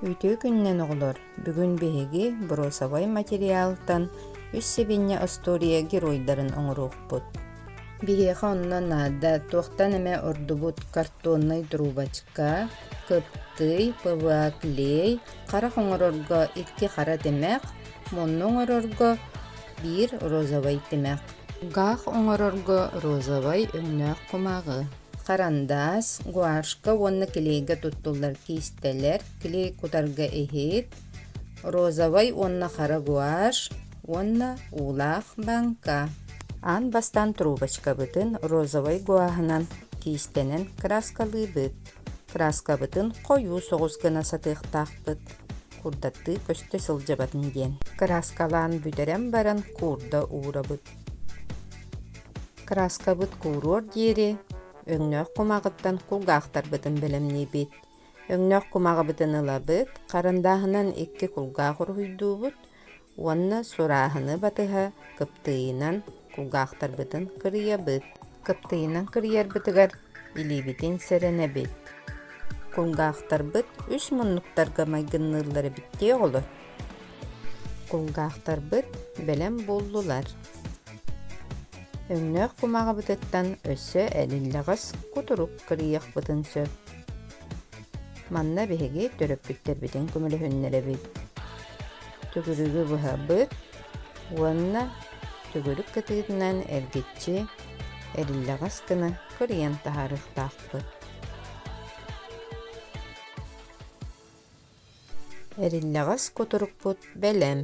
Үтүө күнүнэн оҕолор! Бүгүн биһиги боруосабай материалтан үс сибинньэ остуоруйа геройдарын оҥоруохпут. Биһиэхэ онно наада туохтан эмэ ордубут картоннай трубочка, кыптый, ПВА клей, харах оҥорорго икки хара тимэх, мунну оҥорорго биир розовай тимэх, гах оҥорорго розовай өҥнөөх кумааҕы. Харандаас, гуашка уонна клейга туттуллар киистэлэр, клей кутарга иһит, розовай уонна хара гуашь уонна уулаах бааҥка. Аан бастаан трубочкабытын розовай гуаһынан киистэнэн кырааскалыыбыт. Кырааскабытын хойуу соҕус гына сатыахтаахпыт, курдаттыы көстө сылдьабатын диэн. Кырааскалаан бүтэрэн баран куурда уурабыт. Кырааскабыт кууруор диэри өҥнөөх кумааҕыттан кулгаахтарбытын бэлэмниибит. Өҥнөөх кумааҕыбытын ылабыт, харандааһынан икки кулгаах уруһуйдуубут уонна сурааһыны батыһа кыптыыйынан кулгаахтарбытын кырыйабыт. Кыптыыйынан кырыйарбытыгар илиибитин сэрэнэбит. Кулгаахтарбыт үс муннуктарга майгынныыллар эбиттии оҕолор. Кулгаахтарбыт бэлэм буллулар. Өҥнөөх кумаҕыбытыттан өссө эриллэҕэс кутурук кырыйыахпытын сөп. Манна биһиги төрөппүттэрбитин көмөлөһүннэрэбит. Түгүрүгү быһабыт уонна түгүрүк кытыытынан эргиччи эриллэҕэс гына кырыйан таһаарыахтаахпыт. Эриннэҕэс кутурукпут бэлэм.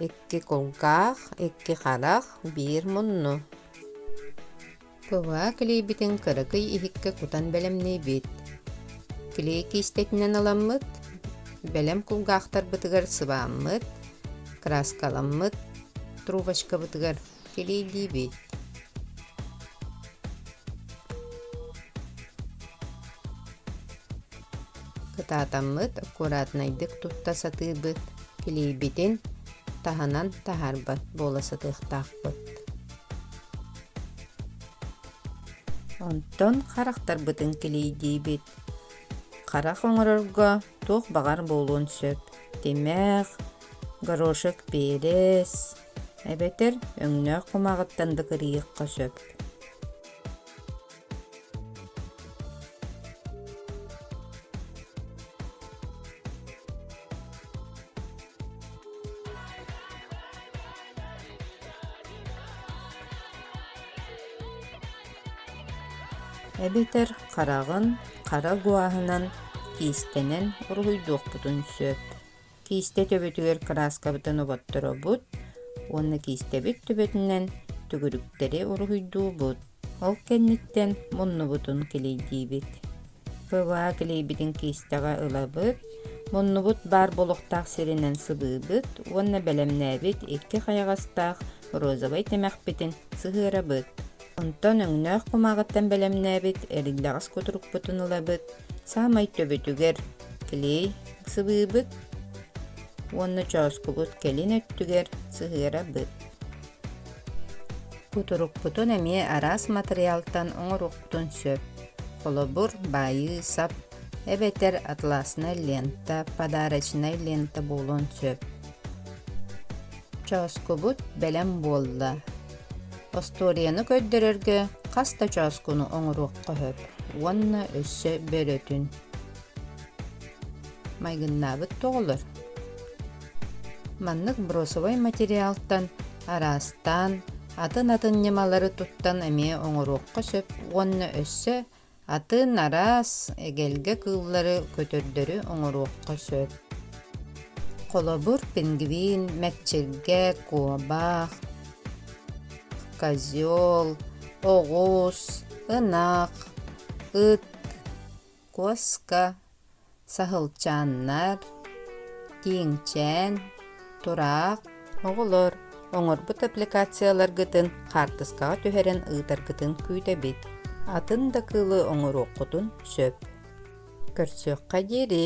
Икки кулгаах, икки харах, биир мунну. Кылаа клейбитин кыракый иһиккэ кутан бэлэмниибит. Клей киистэтинэн ыламмыт, бэлэм кулгаахтарбытыгар сыбааммыт, краскаламмыт, трубочкабытыгар Тириийдиибит Кытаатаммыт аккуратнайдык тутта сатыыбыт, килийбитин таһынан таһаарбат буола сатыахтаахпыт. Онтон харахтарбытын килийдиибит. Харах оҥорорго туох баҕар буолуон сөп. Тимэх, горошек пиэлэс, эбэтэр өҥнөөх кумааҕыттан да кырыйыахха сөп эбэтэр хараҕын хара гуаһынан киистэнэн уруһуйдуохпутун сөп Киистэ төбөтүгэр кырааскабытын оботторобут уонна киистэбит төбөтүнэн түгүрүктэри уруһуйдуубут. Ол кэнниттэн муннубутун килийдиибит. Кылаа килийбитин киистэҕэ ылабыт. Муннубут баар болохтаах сиринэн сыбыыбыт уонна бэлэмнээбит икки хайаҕастаах розовай тимэхпитин сыһыарабыт. Онтон өҥнөөх кумааҕыттан бэлэмнээбит эриллэҕэс кутурукпутун ылабыт, саамай төбөтүгэр клей сыбыыбыт уонна чооскубут кэлин өттүгэр сыһыарабыт. Кутурукпутун эмиэ араас матырыйаалтан оҥоруохпутун сөп. Холобур, баайыы сап эбэтэр атласная лента, подарочная лента буолуон сөп. Чооскубут бэлэм буолла. Остуоруйаны көрдөрөргө хас да чооскуну оҥоруохха сөп уонна өссө бөрөтүн. Майгыннаабыт тоҕолор. Маннык бросовой материалтан араастаан атын-атын ньымалары туттан эмиэ оҥоруохха сөп уонна өссө Атын араас эгэлгэ кыыллары көтөрдөрү оҥоруохха сөп. Холобур, пингвин, мэкчиргэ, куобах, козел, оҕус, ынах, ыт, куоска, Саһылчааннар, Тииҥчээн, Тураах оҕолор оҥорбут аппликацияларгытын хаартыскаҕа түһэрэн ыытаргытын күүтэбит. Атын да кыылы оҥоруоххутун сөп. Көрсүөххэ диэри